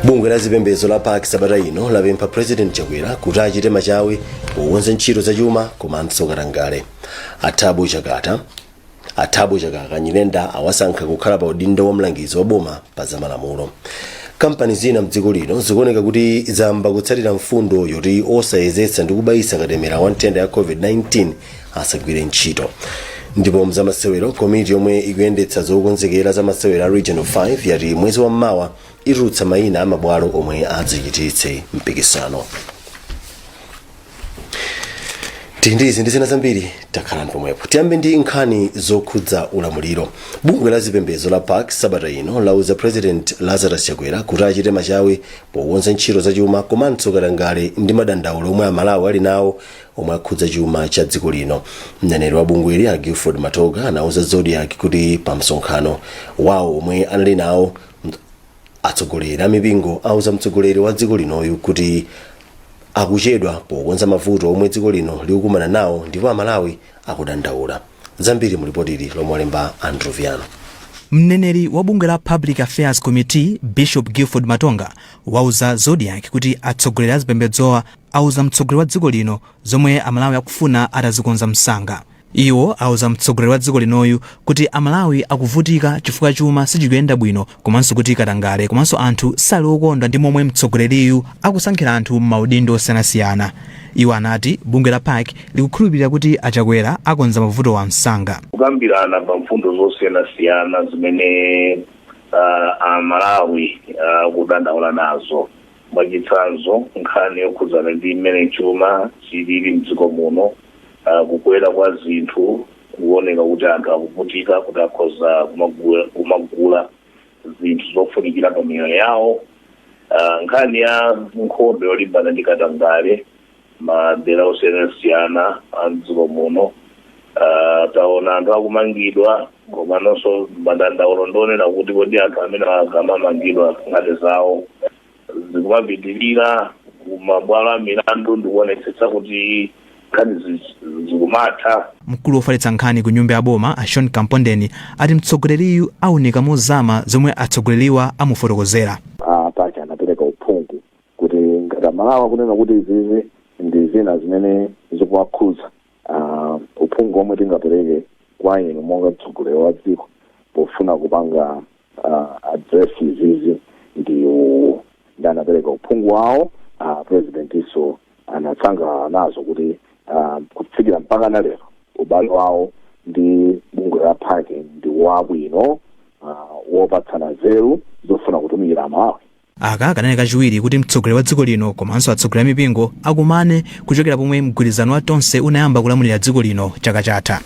bungwe la zipembedzo la pac sabata ino lapempha president chakwera kuti achite machawi pokonza ntchito zachuma komanso katangale a thabo chakaka nyirenda awasankha kukhala pa udindo wa mlangizi wa boma pa zamalamulo kampani zina mdziko lino zikuoneka kuti zayamba kutsatira mfundo yoti osayezetsa ndi kubayitsa katemera wa nthenda ya covid-19 asagwire ntchito ndipo mzamasewero komiti yomwe ikuyendetsa zokonzekera za masewero a region 5 yati mwezi wa mmawa itulutsa mayina a mabwalo omwe adzachititse mpikisano tindizi ndi zina zambiri takhalani pomwepo tiyambe ndi nkhani zokhudza ulamuliro bungwe la zipembedzo la pac sabata ino lauza president lazarus chakwera kuti achite machawi pokonza ntchito zachuma komanso katangale ndi madandaulo omwe amalawi ali nawo omwe akhudza chuma cha dziko lino mneneri wa bungweli a gilford matonga anauza zodiak kuti pa msonkhano wawo omwe anali nawo atsogoleri a mipingo auza mtsogoleri wa dziko linoyu kuti akuchedwa pokonza mavuto omwe dziko lino likukumana nawo ndipo amalawi akudandaula zambiri mu lipoti ili lomwe alemba andrew viano mneneri wa bungwe la public affairs committee bishop gilford matonga wauza zodiak kuti atsogoleri a zipembedzowa auza mtsogoleri wa dziko lino zomwe Amalawi akufuna atazikonza msanga. Iwo auza mtsogoleri wa dziko linoyu kuti Amalawi akuvutika chifukwa chuma sichikuyenda bwino komanso kuti katangale komanso anthu sali okondwa ndi momwe mtsogoleriyu akusankhira anthu m'maudindo osiyanasiyana. Iwo anati bungwe la pac likukhulupirira kuti a Chakwera akonza mavutowa msanga. kukambirana pa mfundo zosiyanasiyana zimene ah, Amalawi akudandaula nazo. Mwachitsanzo, nkhani yokhudzana ndi mmene chuma chilili m'dziko muno, kukwera kwa zinthu kuoneka kuti anthu akuvutika kuti akhoza kumagula zinthu zofunikira pa miyoyo yawo, nkhani ya nkhondo yolimbana ndi katangale, madera osiyanasiyana a mdziko muno Ah, taona anthu akumangidwa komanso madandaulo ndi onena kuti kodi anthu amene akamamangidwa nkhani zawo zikumapitirira kumabwalo a milandu ndikuonetsetsa kuti nkhani zi- zikumatha mkulu wofalitsa nkhani ku nyumba ya boma a sean kampondeni ati mtsogoleriyu aunika mozama zomwe atsogoleriwa amufotokozera a pac anapereka uphungu kuti ngati amalawi akunena kuti izizi ndi zina zimene zikuwakhudza uh, uphungu omwe tingapereke kwa inu monga mtsogoleri wa dziko pofuna kupanga uh, address izizi ndi uwu ndi anapereka uphungu wawo uh, president nso anasangalala nazo kuti uh, kufikira mpaka na lero ubale wawo ndi bungwe la PAC ndi wabwino uh, wopatsana nzeru zofuna kutumikira amalawi Aka kanali kachiwiri kuti mtsogoleri wa dziko lino komanso atsogoleri a mipingo akumane kuchokera pomwe mgwirizano wa Tonse unayamba kulamulira dziko lino chaka chatha.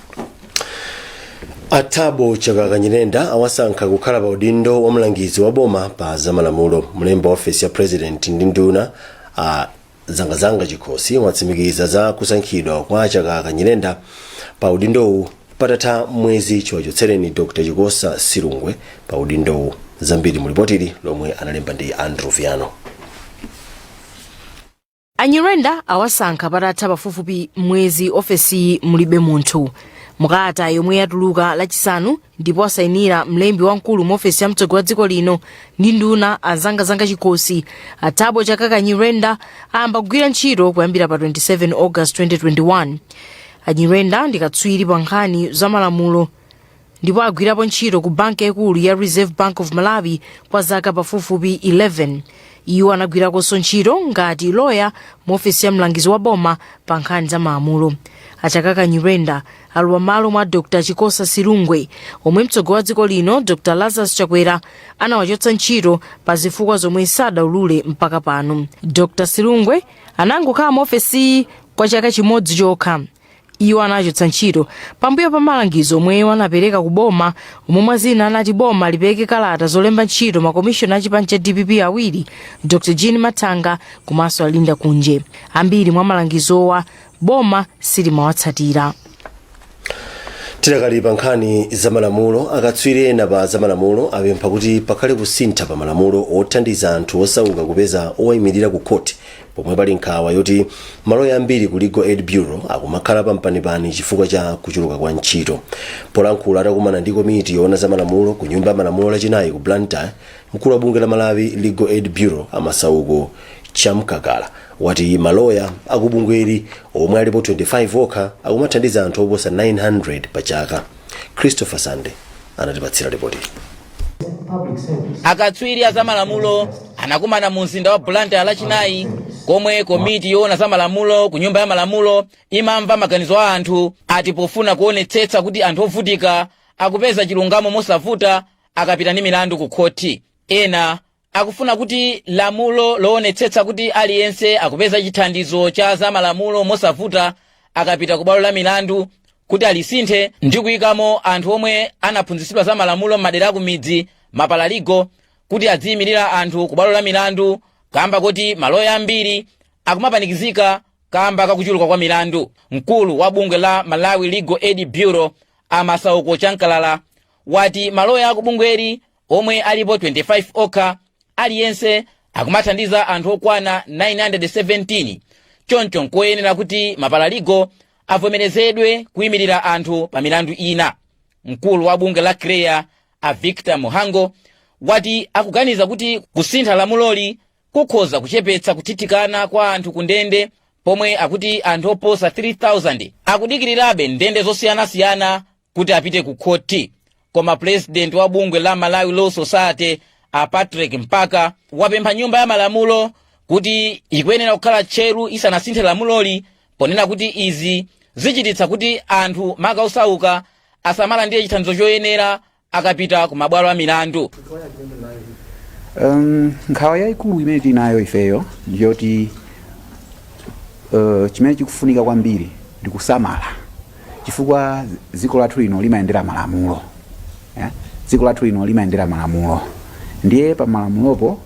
a Thabo Chakaka Nyirenda awasankha kukhala pa udindo wa mlangizi wa boma pa zamalamulo mlembi wa ofesi ya president ndi nduna a zangazanga chikhosi watsimikiza za kusankhidwa kwa chakaka nyirenda pa udindowu patatha mwezi chiwachotsereni dr chikosa silungwe pa udindowu zambiri mu lipoti ili lomwe walemba ndi andrew viano anyirenda awasankha patatha pafupifupi mwezi ofesiyi mulibe munthu mukalata yomwe yatuluka lachisanu ndipo asayinira mlembi wamkulu mu ofesi ya mtsogoleri wa dziko lino ndi nduna azangazanga chikhosi athabo chakaka nyirenda ayamba kugwira ntchito kuyambira pa 27 august 2021 anyirenda ndi katswiri pa nkhani za malamulo ndipo agwirapo ntchito ku banki yaikulu ya reserve bank of malawi kwa zaka pafupifupi 11 iwo anagwirakonso ntchito ngati loya mu ofesi ya mlangizi wa boma pa nkhani za malamulo achakaka nyirenda alowa malo mwa dr chikosa silungwe omwe mtsogoleri wa dziko lino dr lazarus chakwera anawachotsa ntchito pa zifukwa zomwe sadaulule mpaka pano dr silungwe anangokhala mu ofesiyi kwa chaka chimodzi chokha iwo anachotsedwa ntchito pambuyo pa malangizo omwe iwo anapereka ku boma omwe mwa zina anati boma lipereke kalata zolemba ntchito makomishona a chipani cha dpp awiri dr jean mathanga komanso alinda kunje ambiri mwa malangizowa boma silimawatsatira tidakali pa nkhani zamalamulo akatswiri ena pa zamalamulo apempha kuti pakhale kusintha pa malamulo othandiza anthu osauka kupeza owayimirira ku khoti pomwe pali nkhawa yoti maloya ambiri ku legal aid bureau akumakhala pampanipani chifukwa cha kuchuluka kwa ntchito polankhula atakumana ndi komiti yoona zamalamulo ku nyumba ya malamulo lachinayi ku blantyre mkulu wa bungwe la malawi legal aid bureau amasauko chamkakala wati maloya akubungweli omwe alipo 25 okha akumathandiza anthu oposa 900 pa chaka christopher sande anatipatsira lipoti akatswiri a zamalamulo anakumana mu mzinda wa blantyre lachinayi komwe komiti yoona za malamulo ku nyumba ya malamulo imamva maganizo a anthu ati pofuna kuonetsetsa kuti anthu ovutika akupeza chilungamo mosavuta akapita ndi milandu ku khoti ena akufuna kuti lamulo loonetsetsa kuti aliyense akupeza chithandizo cha zamalamulo mosavuta akapita ku bwalo la milandu kuti alisinthe ndi kuyikamo anthu omwe anaphunzitsidwa za malamulo m'madera akumidzi mapalaligo kuti adziyimirira anthu ku bwalo la milandu kamba kuti maloya ambiri akumapanikizika kamba kakuchuluka kwa milandu mkulu wa bungwe la malawi legal aid bureau a masauko chamkalala wati maloya akubungweli omwe alipo 25 okha aliyense akumathandiza anthu okwana 917 choncho nkoyenera kuti mapalaligo avomerezedwe kuyimirira anthu pa milandu ina mkulu wa bungwe la chreaa a victor mhango wati akuganiza kuti kusintha lamuloli kukhoza kuchepetsa kuthithikana kwa anthu ku ndende pomwe akuti anthu oposa 3000 akudikirirabe m'ndende zosiyanasiyana kuti apite ku khothi koma pulezidenti wa bungwe la malawi law society a patrick mpaka wapempha nyumba ya malamulo kuti ikuyenera kukhala tcheru isanasinthe lamuloli ponena kuti izi zichititsa kuti anthu maka osauka asamalandire chithandizo choyenera akapita ku mabwalo a milandu Um, nkhawa yayikulu imene tinayo ifeyo ndiyoti uh, chimene chikufunika kwambiri ndi kusamala chifukwa dziko lathu lino limayendera malamulo eh? dziko lathu lino limayendera malamulo ndiye pa malamulopo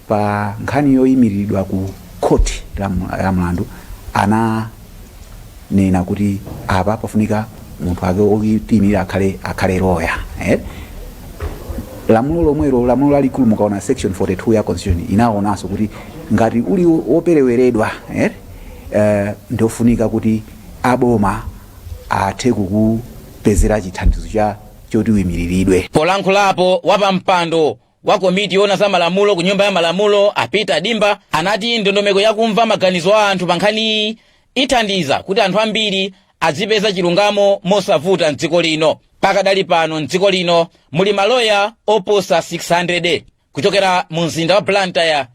pa nkhani yoyimiridwa ku khoti la mu- la mlandu ananena kuti apa pafunika munthu ake otiyimirira akhale akhale loya eh? lamulo lomwelo lamulo lalikulu mukaona section 42 ya constitution inanenanso kuti ngati uli wopereweredwa eh, eh, ndiofunika kuti aboma athe kukupezera chithandizo choti uimiliridwe. Polankhulapo wapampando wa komiti yoona za malamulo ku nyumba ya malamulo a Peter Dimba anati ndondomeko yakumva maganizo a anthu pa nkhaniyi ithandiza kuti anthu ambiri azipeza chilungamo mosavuta mdziko lino pakadali pano mdziko lino muli maloya oposa 600 kuchokera mu mzinda wa Blantyre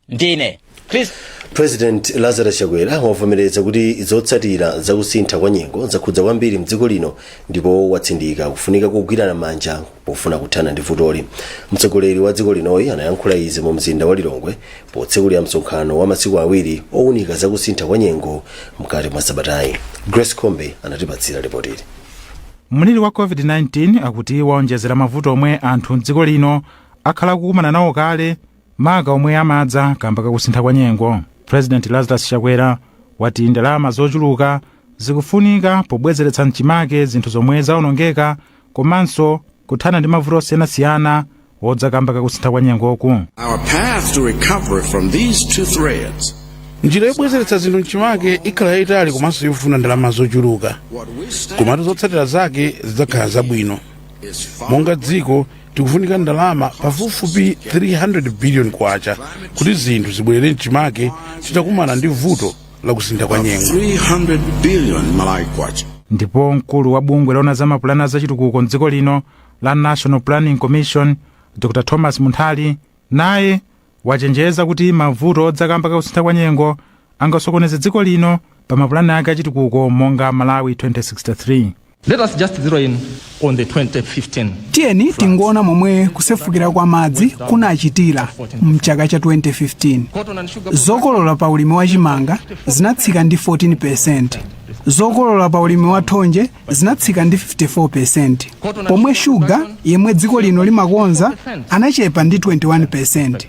ndine chris president lazarus chakwera wavomereza kuti zotsatira zakusintha kwa nyengo zakhudza kwambiri mdziko lino ndipo watsindika kufunika kogwirana manja pofuna kuthana ndi vutoli mtsogoleri wa dziko linoyi anayankhula izi mu mzinda wa lilongwe potsekulira msonkhano wa masiku awiri owunika zakusintha kwa nyengo mkati mwa sabatayi grace kombe anatipatsira ripotili mliri wa covid-19 akuti waonjezera mavuto omwe anthu mdziko lino akhala kukumana nawo kale maka omwe amadza kamba kakusintha kwa nyengo. President Lazarus Chakwera wati ndalama zochuluka zikufunika pobwezeretsa mchimake zinthu zomwe zaonongeka komanso kuthana ndi mavuto osiyanasiyana odza kamba kakusintha kwa nyengoku. Our path to recovery from these two threats njira yobwezeretsa zinthu mchimake ikhala yayitali komanso yofuna ndalama zochuluka komatu zotsatira zake zidzakhala zabwino monga dziko tikufunika ndalama pafupifupi 300 billion kwacha kuti zinthu zibwerere mchimake titakumana ndi vuto la kusintha kwa nyengo 300 billion Malawi kwacha. ndipo mkulu wa bungwe loona za mapulani a zachitukuko mdziko lino la national planning commission dr thomas munthali naye wachenjeza kuti mavuto odza kamba ka kusintha kwa nyengo angasokoneze dziko lino pa mapulani ake achitukuko monga Malawi 2063. Let us just zero in on the 2015. tiyeni tingoona momwe kusefukira kwa madzi kunachitira mchaka cha 2015 Cotton and sugar zokolola pa ulimi wa chimanga zinatsika ndi 14 zokolola pa ulimi wa thonje zinatsika ndi 54%, pomwe shuga yemwe dziko lino limakonza anachepa ndi 21%.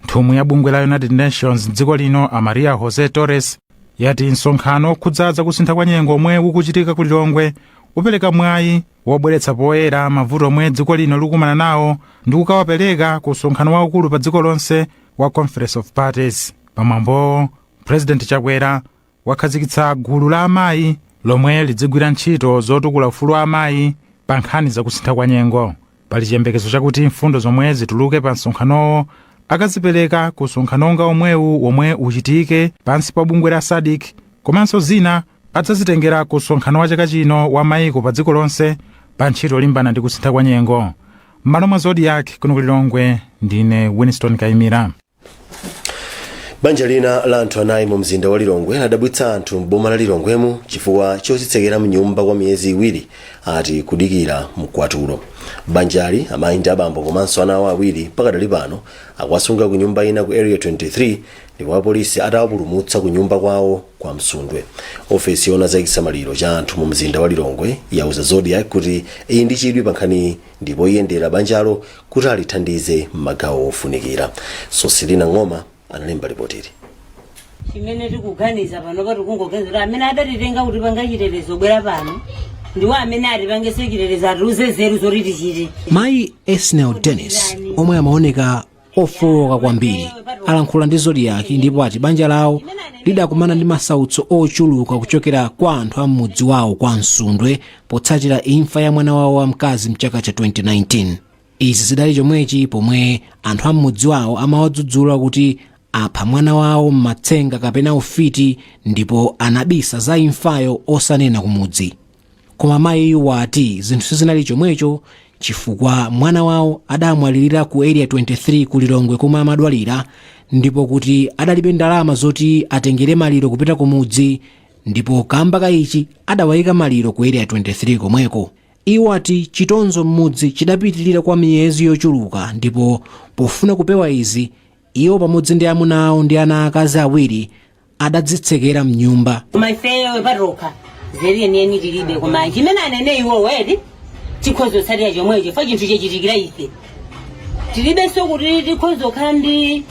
Nthumwi ya bungwe la United Nations m'dziko lino a Maria Jose Torres yati msonkhano okhudza za kusintha kwa nyengo omwe ukuchitika ku Lilongwe upereka mwayi wobweretsa poyera mavuto omwe dziko lino likukumana nawo ndi kukawapereka ku msonkhano waukulu pa dziko lonse wa Conference of Parties. Pamwambowo, President Chakwera wakhazikitsa gulu la amayi lomwe lidzigwira ntchito zotukula ufulu wa amayi pa nkhani za kusintha kwa nyengo pali chiyembekezo chakuti mfundo zomwe zituluke pa msonkhanowo akazipereka ku msonkhano wonga omwewu womwe uchitike pansi pa bungwe la SADC komanso zina adzazitengera ku msonkhano wa chaka chino wa mayiko pa dziko lonse pa ntchito yolimbana ndi kusintha kwa nyengo m'malo mwa Zodiak kuno ku lilongwe ndine winston kaimira banja lina la anthu anayi mu mzinda wa lilongwe ladabwitsa anthu m'boma la lilongwemu chifukwa chodzitsekera mnyumba kwa miyezi iwiri ati kudikira mkwatulo banjali amayi ndi abambo komanso ana awo awiri pakadali pano akuwasunga ku nyumba ina ku area 23 ndipo apolisi atawapulumutsa ku nyumba kwawo kwa msundwe ofesi yoona za chisamaliro cha anthu mu mzinda wa lilongwe yauza Zodiak kuti ili ndi chidwi pa nkhaniyi ndipo iyendera banjalo kuti alithandize m'magawo ofunikira sosilina ng'oma analemba lipotili chimene tikuganiza pano pati kungoganiza kuti amene adatitenga kutipanga chitetezo kubwera pano ndiwo amene atipangenso chitetezo atiuze nzeru zoti tichite mayi esnel dennis omwe amaoneka ofooka kwambiri alankhula ndi zodiak ndipo ati banja lawo lidakumana ndi masautso ochuluka kuchokera kwa anthu a m'mudzi wawo kwa msundwe potsatira imfa ya mwana wawo wamkazi mchaka cha 2019 izi zidali chomwechi pomwe anthu a m'mudzi wawo amawadzudzula kuti apha mwana wawo m'matsenga kapena ufiti ndipo anabisa za imfayo osanena kumudzi Koma mayiyu wati zinthu sizinali chomwecho chifukwa mwana wawo adamwalirira ku Area 23 ku Lilongwe komwe amadwalira ndipo kuti adalibe ndalama zoti atengere maliro kupita kumudzi ndipo kamba ka ichi adawayika maliro ku Area 23 komweko. Iwo ati chitonzo m'mudzi chidapitirira kwa miyezi yochuluka ndipo pofuna kupewa izi Iwo pamodzi ndi amuna awo ndi ana aakazi awiri adadzitsekera m'nyumba. koma ifeyo patokha nzeru yeniyeni tilibe koma chimene anene iwowo eti tikhoza kutsatira chomwecho chifukwa chinthu chachitikira ife tilibenso kuti tikhoza kukhala ndi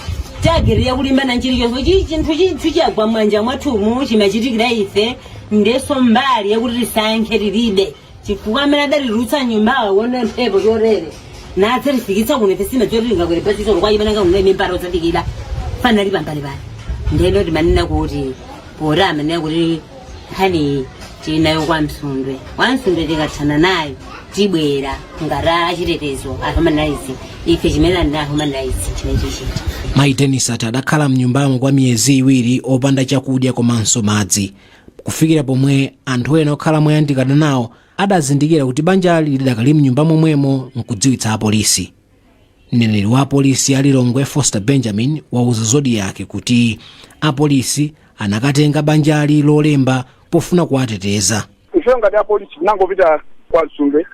tageti yakulimbana nchilichonse chi chinthu chinthu chagwa mwanja mwathumu chimatichitikira ife ndenso mbali yakuti tisankhe tilibe chifukwa amene adaliutsa nyumbawa aone mphepo chotere nadzalifikitsa kuno ife sina choti lingakwere pachisolo kwa chimene ngakunaye mimbara osadikira panali pambalipali ndeno timanena kuti poti amanena kuti nkhaniyi tinayo kwa msundwe kwa msundwe tikathana nayo tibwera ngati achitetezo a human rights ife chimene ndi a human rights chimene chichita mayi dennis ati adakhala mnyumbamo kwa miyezi iwiri opanda chakudya komanso madzi kufikira pomwe anthu ena okhala moyandikana nawo adazindikira kuti banjali lidakali mnyumba momwemo nkudziwitsa apolisi mneneri wa apolisi a lilongwe foster benjamin wauza zodiak kuti apolisi anakatenga banjali lolemba pofuna kuwateteza ife ngati apolisi tinangopita kwa msundwe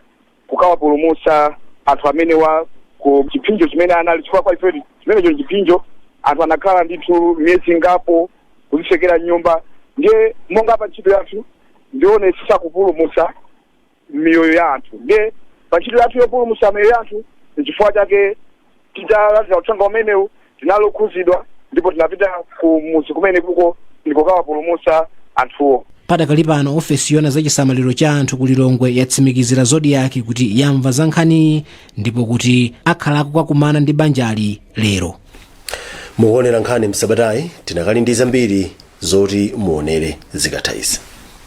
kukawapulumutsa anthu amenewa ku chipsinjo chimene anali chifukwa kwa ife chimenecho nchipsinjo anthu anakhala ndithu miyezi ingapo kuzitsekera m'nyumba ndiye monga pa ntchito yathu ndi kuonetsetsa kupulumutsa miyoyo ya anthu ndiye pa ntchito yathu yopulumutsa miyoyo ya anthu nchifukwa chake titalandira uthenga umenewu tinali okhudzidwa ndipo tinapita ku mudzi kumenekuko ndi kukawapulumutsa anthuwo padakali pano ofesi yona za chisamaliro cha anthu ku lilongwe yatsimikizira zodiak kuti yamva za nkhaniyi ndipo kuti akhala akukakumana ndi banjali lero mukuonera nkhani msabatayi tinakali ndi zambiri zoti muonere zikatha izi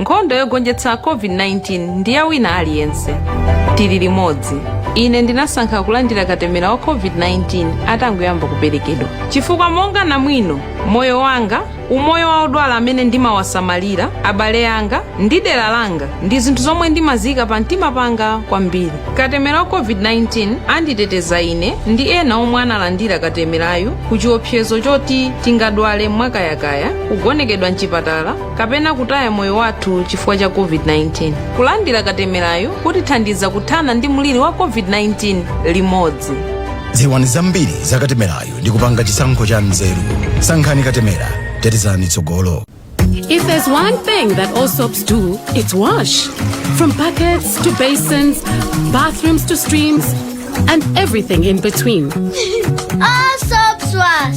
Nkhondo yogonjetsa COVID-19 ndi ya wina aliyense. Tili limodzi. Ine ndinasankha kulandira katemera wa COVID-19 atangoyamba kuperekedwa. Chifukwa monga namwino, moyo wanga, umoyo wa odwala amene ndimawasamalira, abale anga ndi dera langa ndi zinthu zomwe ndimaziika pa mtima panga kwambiri. Katemera wa COVID-19 amanditeteza ine ndi ena omwe analandira katemerayu ku chiopsezo choti tingadwale mwakayakaya, kugonekedwa mchipatala kapena kutaya moyo wathu chifukwa cha covid-19 kulandira katemerayu kutithandiza kuthana ndi mliri wa covid-19 limodzi dziwani zambiri za katemerayu ndi kupanga chisankho cha nzeru sankhani katemera tetezani tsogolo If there's one thing that all soaps do, it's wash. From buckets to basins, bathrooms to streams, and everything in between. All soaps wash.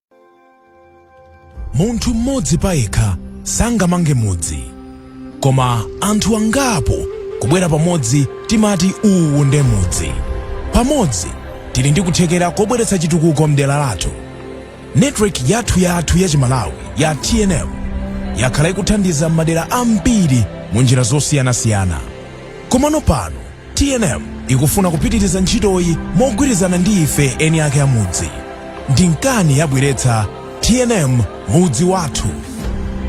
munthu mmodzi payekha sangamange mudzi koma anthu angapo kubwera pamodzi timati uwu nde mudzi pamodzi tili ndi kuthekera kobweretsa chitukuko mdera lathu network yathu yathu ya chimalawi ya tnm yakhala ikuthandiza madera ambiri mu njira zosiyanasiyana komano pano tnm ikufuna kupitiriza ntchitoyi mogwirizana ndi ife eni ake a mudzi ndi nkana yabweretsa tnm mudzi wathu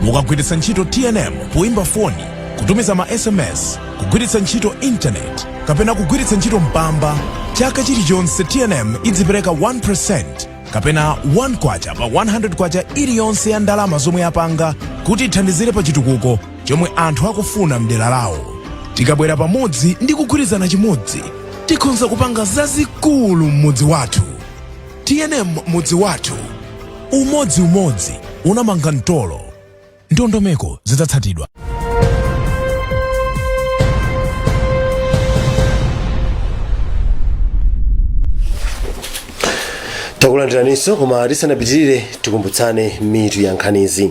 mukagwiritsa ntchito tnm poimba foni kutumiza ma sms kugwiritsa ntchito intaneti kapena kugwiritsa ntchito mpamba chaka chilichonse tnm idzipereka 1% kapena 1 kwacha pa 100 kwacha iliyonse ya ndalama zomwe yapanga kuti ithandizire pa chitukuko chomwe anthu akufuna mdera lawo tikabwera pamodzi ndi kugwirizana chimodzi tikhonza kupanga zazikulu m'mudzi wathu tnm mudzi wathu umodzi umodzi unamanga mtolo ndondomeko zidzatsatidwa takulandiraniso koma tisanapitirire tikumbutsane mitu ya nkhanizi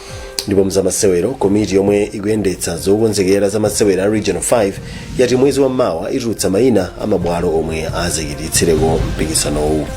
ndipo mzamasewero komiti yomwe ikuyendetsa zokonzekera za masewero a region 5 yati mwezi wa mawa itulutsa mayina a mabwalo omwe azachititsireko mpikisanowu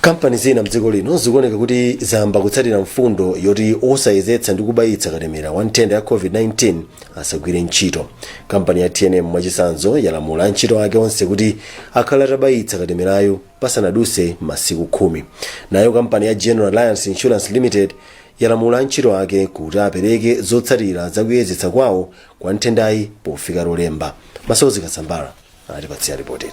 kampani zina mdziko lino zikuoneka kuti zayamba kutsatira mfundo yoti osayezetsa ndi kubayitsa katemera wa nthenda ya covid-19 asagwire ntchito kampani ya tnm mwachisanzo yalamula antchito ake onse kuti akhale atabayitsa katemerayu pasanadutse masiku khumi nayo kampani ya general alliance insurance limited yalamula antchito ake kuti apereke zotsatira zakuyezetsa kwawo kwa nthendayi pofika lolemba masozi kasambala atipatsira lipotili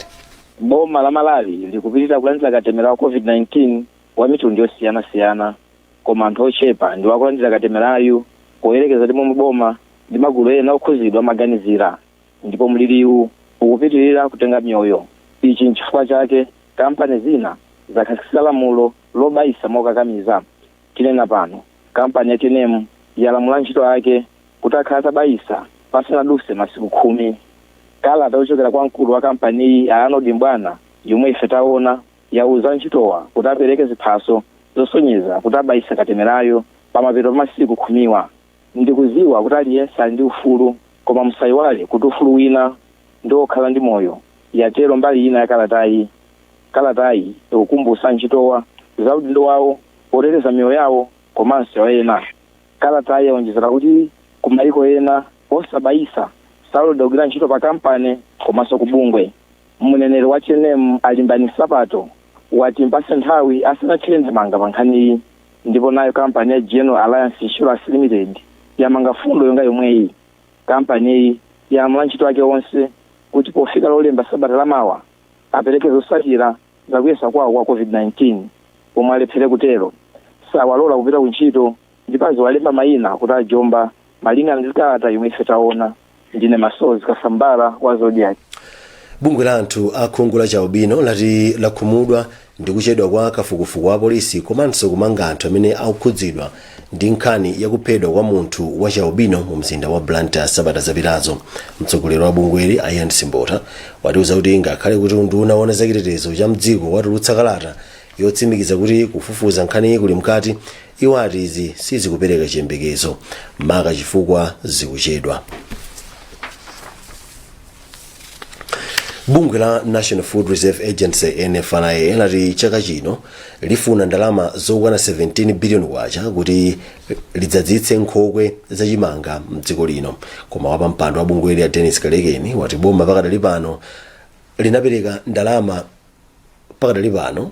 boma la malawi likupitira kulandira katemera wa covid-19 wa mitundu yosiyanasiyana koma anthu ochepa ndiwo akulandira katemerayu poyerekeza ndi momwe boma ndi magulu ena okhuzidwa amaganizira Ndipo mliriwu ukupitirira kutenga miyoyo. Ichi n'chifukwa chake kampani zina zakhazikitsa lamulo lobayitsa mokakamiza. Tinena pano, kampani ya tnm yalamula antchito ake kuti akhale atabayitsa pasanadutse masiku khumi. Kalata yochokera kwa mkulu wa kampaniyi a Arnold Mbwana yomwe ife taona, yauza antchitowa kuti apereke ziphaso zosonyeza kuti abayitsa katemerayu pamapeto pa masiku khumiwa. Ndikudziwa kuti aliyense ali ndi ufulu, koma musaiwale kuti ufulu wina ndi wokhala ndi moyo, yatelo mbali ina ya kalatayi. Kalatayi ikukumbutsa antchitowa za udindo wawo woteteza miyoyo yawo komanso ya ena. Kalatayi yaonjezela kuti ku maiko ena, osabayitsa saloledwa kugwira ntchito pa kampani komanso ku bungwe. Mneneri wa tnm a Limbani Nsapato wati mpatse nthawi asanathire ndemanga pa nkhaniyi. Ndipo nayo kampani ya General Alliance Insurance Limited yamanga fundo yonga yomweyi. Kampaniyi yalamula antchito ake onse kuti pofika Lolemba sabata la mawa apereke zotsatira za kuyesa kwawo kwa COVID-19. Omwe alephere kutero sawalola kupita kuntchito ndipo aziwalemba mayina kuti ajomba Malinga ndi kalata yomwe ife taona, ndine Masozi Kasambala wa Zodiak. bungwe la anthu a khungu la chaubino lati lakhumudwa ndi kuchedwa kwa kafukufuku wa polisi komanso kumanga anthu amene akukhudzidwa ndi nkhani yakuphedwa kwa munthu wa chaubino mu mzinda wa blantyre sabata zapitazo mtsogoleri wa bungweli ian simbota watiuza kuti ngakhale kuti unduna wa zachitetezo cha mdziko watulutsa kalata yotsimikiza kuti kufufuza nkhaniyi kuli mkati Iwo ati izi sizikupereka chiyembekezo maka chifukwa zikuchedwa. Bungwe la National Food Reserve Agency NFRA lati chaka chino lifuna ndalama zokwana 17 billion kwacha kuti lidzadzitse nkhokwe za chimanga mdziko lino. Koma wapampando wa bungweli a Dennis Kalekeni wati boma pakadali pano linapereka ndalama pakadali pano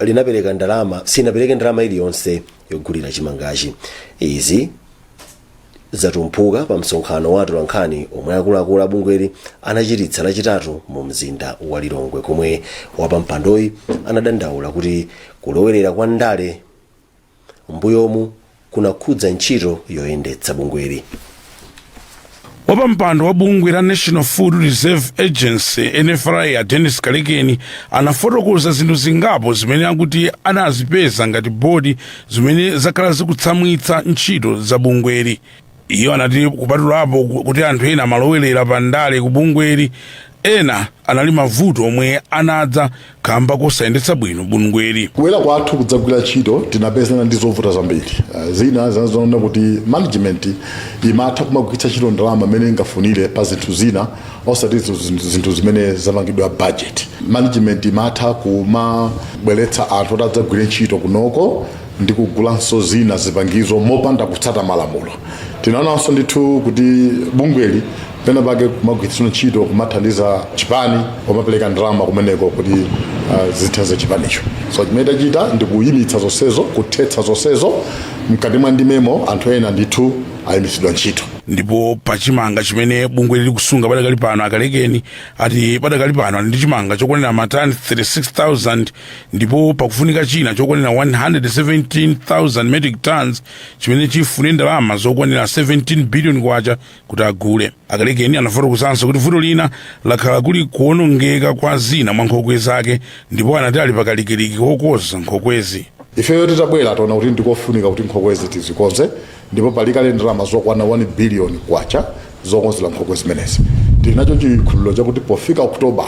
linapereka ndalama sinapereke ndalama iliyonse yogulira chimangachi izi zatumphuka pa msonkhano wa atolankhani omwe akuluakulu abungweli anachititsa lachitatu mu mzinda wa lilongwe komwe wapampandoyi anadandaula kuti kulowerera kwa ndale m'mbuyomu kunakhudza ntchito yoyendetsa bungweli wapampando wa bungwe la national food reserve agency nfra a dennis kalekeni anafotokoza zinthu zingapo zimene akuti anazipeza ngati bodi zimene zakhala zikutsamwitsa ntchito za bungweli iyo anati kupatulapo kuti anthu ena amalowerera pa ndale ku bungweli ena anali mavuto omwe anadza kamba kosayendetsa bwino bungweli kubwera kwathu kudzagwira ntchito tinapezana ndi zovuta zambiri Eh, zina zinazoona kuti management imatha kumagwiritsa ntchito ndalama imene ingafunire pa zinthu zina osati zinthu zimene zapangidwa budget management imatha kumabweretsa anthu kuti adzagwire ntchito kunoko ndi kugulanso zina zipangizo mopanda kutsata malamulo tinaonanso ndithu kuti bungweli pena pake kumagwiritsidwa ntchito kumathandiza chipani kumapereka ndalama kumeneko kuti uh, zithandize chipanicho so chimene tachita ndi kuyimitsa zonsezo kuthetsa zonsezo mkati mwa ndimemo anthu ena ndithu ayimitsidwa ntchito ndipo pa chimanga chimene bungweli likusunga padakali pano akalekeni ati padakali pano ali ndi chimanga chokwanira matani 36000 ndipo pakufunika china chokwanira 117,000 metric tons chimene chifune ndalama zokwanira 17 billion kwacha kuti agule akalekeni anafotokozanso kuti vuto lina lakhala kuli kuonongeka kwa zina mwa nkhokwe zake ndipo anati ali pakalikiliki kokonza nkhokwezi ifeyo titabwera taona kuti ndikofunika kuti nkhokwezi tizikonze Ndipo pali kale ndalama zokwana 1 biliyoni kwacha zokonzera nkhokwe zimenezi. Tinacho chikhulupiriro chakuti pofika October,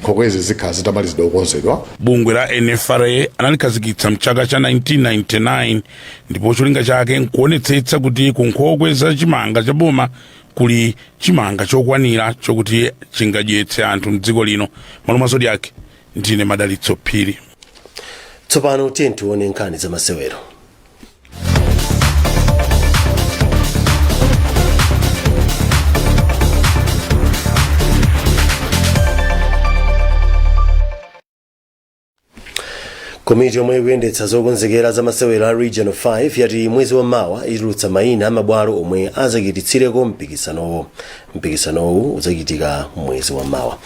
nkhokwezi zikhala zitamalizidwa kukonzedwa. Bungwe la NFRA analikhazikitsa m'chaka cha 1999 ndipo cholinga chake n'kuonetsetsa kuti ku nkhokwe za chimanga cha boma kuli chimanga chokwanira chokuti chingadyetse anthu m'dziko lino. M'malo mwa Zodiak, ndine Madalitso Phiri. Tsopano tiyeni tione nkhani zamasewero. komiti yomwe ikuyendetsa zokonzekera za masewero a region 5 yati mwezi wa mawa itulutsa mayina a mabwalo omwe azachititsireko mpikisanowo mpikisanowu uzachitika mwezi wa mawa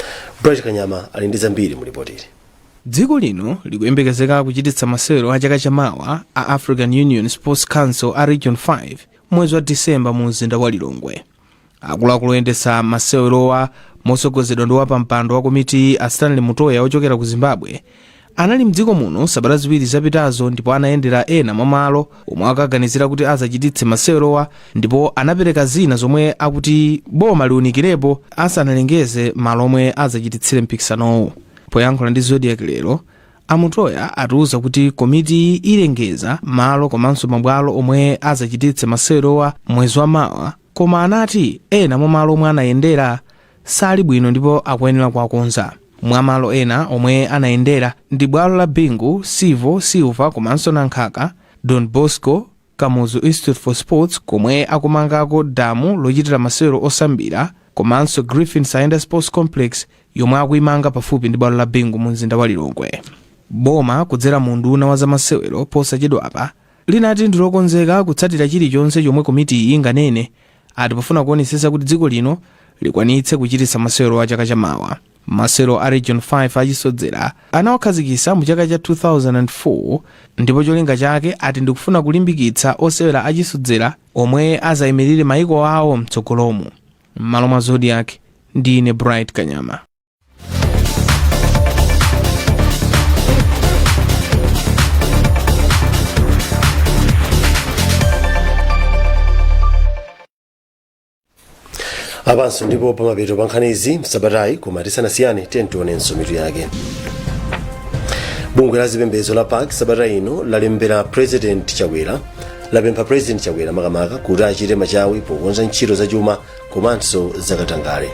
bright kanyama ali ndi zambiri mu lipotili Dziko lino likuyembekezeka kuchititsa masewero a chaka cha mawa a African Union Sports Council a Region 5 mwezi wa December mu mzinda wa Lilongwe. Akuluakulu oyendetsa masewerowa motsogozedwa ndi wapampando wa komiti a Stanley Mutoya ochokera ku Zimbabwe anali mdziko muno sabata ziwiri zapitazo ndipo anayendera ena mwa malo omwe akaganizira kuti azachititse masewerowa ndipo anapereka zina zomwe akuti boma liunikirepo asanalengeze malo omwe azachititsire mpikisanowu Poyankhula ndi Zodiak lero, a Mutoya atiuza kuti komitiyi ilengeza malo komanso mabwalo omwe azachititse masewerowa mwezi wa mawa koma anati ena mwa malo omwe anayendera sali bwino ndipo akuyenera kuwakonza. Mwa malo ena omwe anayendera ndi bwalo la Bingu, Civo, Silver komanso Nankhaka, Don Bosco, Kamuzu Institute for Sports komwe akumangako damu lochitira masewero osambira komanso Griffin Saenda Sports Complex yomwe akuimanga pafupi ndi bwalo la Bingu mumzinda wa Lilongwe. Boma kudzera mu unduna wa zamasewero posachedwapa linati ndi lokonzeka kutsatira chilichonse chomwe komitiyi inganene ati pofuna kuonetsetsa kuti dziko lino likwanitse kuchititsa masewerowa chaka chamawa. Masewero a region 5 achisodzera anawakhazikisa mu chaka cha 2004 ndipo cholinga chake ati ndikufuna kulimbikitsa osewera achisodzera omwe azayimirire mayiko awo mtsogolomu. M'malo mwa Zodiak, ndine Bright Kanyama. apanso ndipo pamapeto pa nkhanizi msabatayi koma tisanasiyane tionenso mitu yake bungwe la zipembedzo la pac sabata ino lalembera president chakwera lapempha president chakwera makamaka kuti achite machawi pokonza ntchito zachuma komanso zakatangale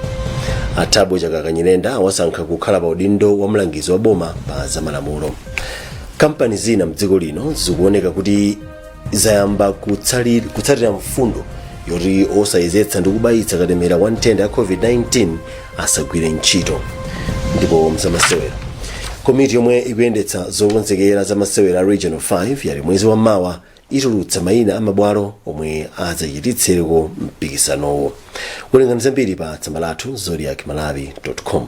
a thabo chakaka nyirenda awasankha kukhala pa udindo wa mlangizi wa boma pa zamalamulo kampani zina mdziko lino zikuoneka kuti zayamba kutsatira mfundo yoti osayezetsa ndi kubayitsa katemera wa nthenda ya covid-19 asagwire ntchito ndipo mzamasewera komiti yomwe ikuyendetsa zokonzekera za masewera a regional 5 yati mwezi wa mawa itulutsa mayina a mabwalo omwe adzachititsireko mpikisanowo werengani zambiri pa tsamba lathu zodiac malawi com